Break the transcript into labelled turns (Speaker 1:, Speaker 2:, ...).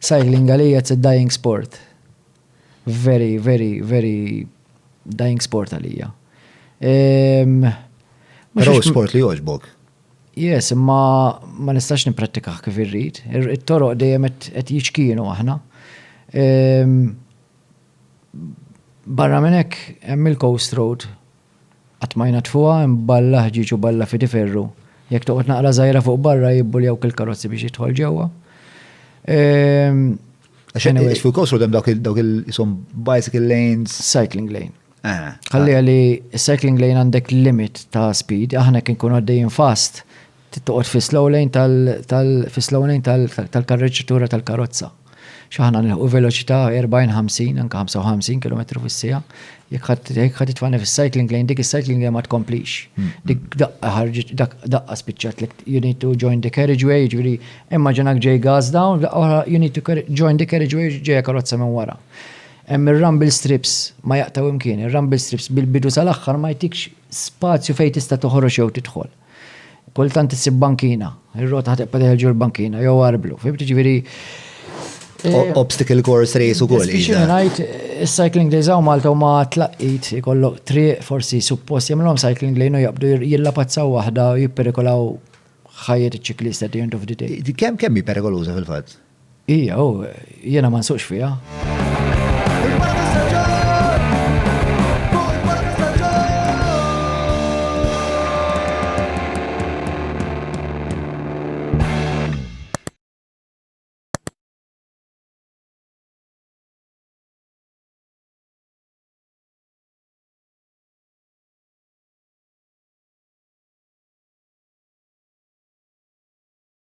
Speaker 1: Cycling għalija it's a dying sport. Very, very, very dying sport għalija. Pero sport li joġbok. Yes, imma ma nistax niprattikah kif irrid. It-toroq dejjem qed jiċkienu aħna. Barra minn hekk hemm il-Coast Road Qatt ma jnaddfuha, hemm balla ħġieġ u balla fidi ferru. Jekk toqgħod naqra żgħira fuq barra jibbuljawk il-karozzi biex jidħol ġewwa. Għax fuq Coast Road hemm dawk il-isom bicycle lanes. Cycling lane. Ah, Ħalli għalli ah. cycling lane għandek limit ta' speed, aħna kien kun għaddejjin fast, Trid toqgħod fis-slow lane tal fis-slow lane tal-karreġġitura tal-karozza. Xi aħna nilħqu veloċità 40, 50, anke 55 kilometru fis-siegħa. Jekk ħadd jekk ħadd titfani fis-cycling lane, dik is-cycling lane ma tkomplix. Dik daqqa ħarġet daqqa spiċċat lek you need to join the carriageway, jiġifieri immaġinak ġej gas down, daqqa oħra you need to join the carriageway ġejja karozza minn wara. Hemm ir-rumble strips ma jaqtgħu imkien, ir-rumble strips bil-bidu sal-aħħar ma jtikx spazju fejn tista' toħroġ jew tidħol. Kultant issib bankina, ir-rota ħatibqa' teħelġu l-bankina jew arblu. Fim tiġifieri eh, obstacle course race u koll. Biex ngħid is-cycling days hawn Malta huma tlaqqit ikollok triq forsi suppost jagħmluhom cycling lane u jaqbdu jillapazzaw waħda u jipperikolaw ħajjet iċ-ċiklista at the end of the day. Kemm kemm hi perikoluża fil-fatt? Hija u jiena ma nsuqx fiha.